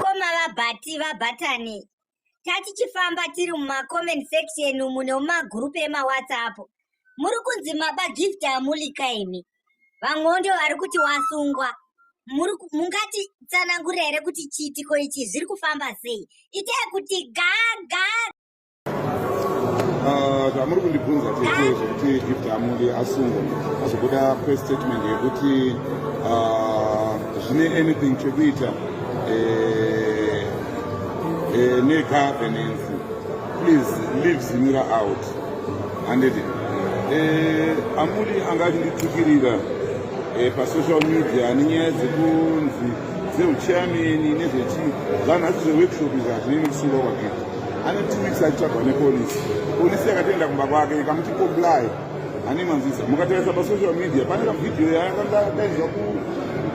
Koma vabati vabatani tatichifamba tiri mumacoment section umu nemumagrupu emawhatsapp muri kunzi maba gift amulika imi vamwewo ndio vari kuti wasungwa mungati tsanangura here kuti chiitiko ichi zviri kufamba sei itai kuti gaga Ah, zvamuri kundibvunza tete zvekuti gift amuli asungwa azobuda press statement yekuti ah, zvine anything chekuita eh, eh, negovernance please leave zimira out handiti eh, amuli anga achinditukirira pasocial media nenyaya dzekunzi dzeuchameni nezvechii zvanhasi zveworkshop izvi hazvinei nekusungwa kwagita ane two weeks aitsvagwa nepolisi polisi yakatoenda kumba kwake ikamuti comply ani manzisa mukatarisa pasocial media pane kavhidhiyo yaakandadaizwa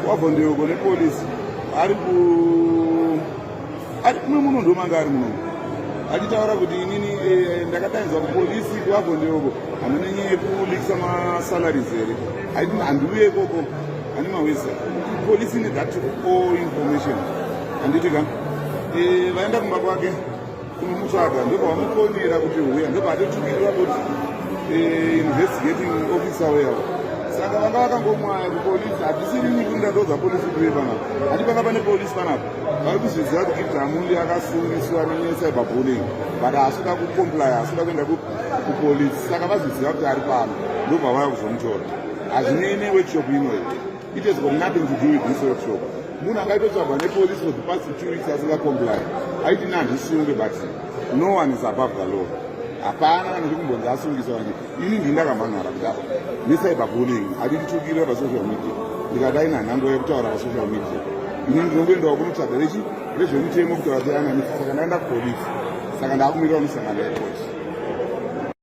kuwavhondeyoko nepolisi ari ku ari kuno muno ndomanga ari muno achitaura kuti inini eh, ndakadainzwa kupolisi kuwavhondeyoko hamuna nyaya yekulikisa masalaries here aiti handiuye ikoko ani mawisa polisi need that all information handiti ka vaenda kumba kwake kunomutsvaga ndopavamufonera kuti huya ndopavatotumirira kuti investigating officer weavo saka vanga vakangomwaya kupolisi hatisiri nyika ndadoza polisi kuve panapa hati panga pane polisi panapa vari kuzviziva kuti itamuli akasungiswa necyber bulling but haasvika kucomplya haasvika kuenda kupolisi saka vazviziva kuti ari pano ndobva vaya kuzomutora hazvinei neworkshop inoyi It has got nothing to do with this workshop. Munhu akaitotsvagwa nepolice for the past two weeks asinga comply. Aiti nandisunge but no one is above the law. Hapana kana ndi kumbonzi asungiswa ndi. Ini ndi ndakamhan'ara kuti apa. Ni cyber bullying. Adi nditukire pa social media. Ndikadai na nhango yekutaura pa social media. Ini ndinokuenda wa kunotsvaga rechi rezvemutemo kuti vati ana misa saka ndaenda kupolice. Saka ndakumirira musangano yepolice.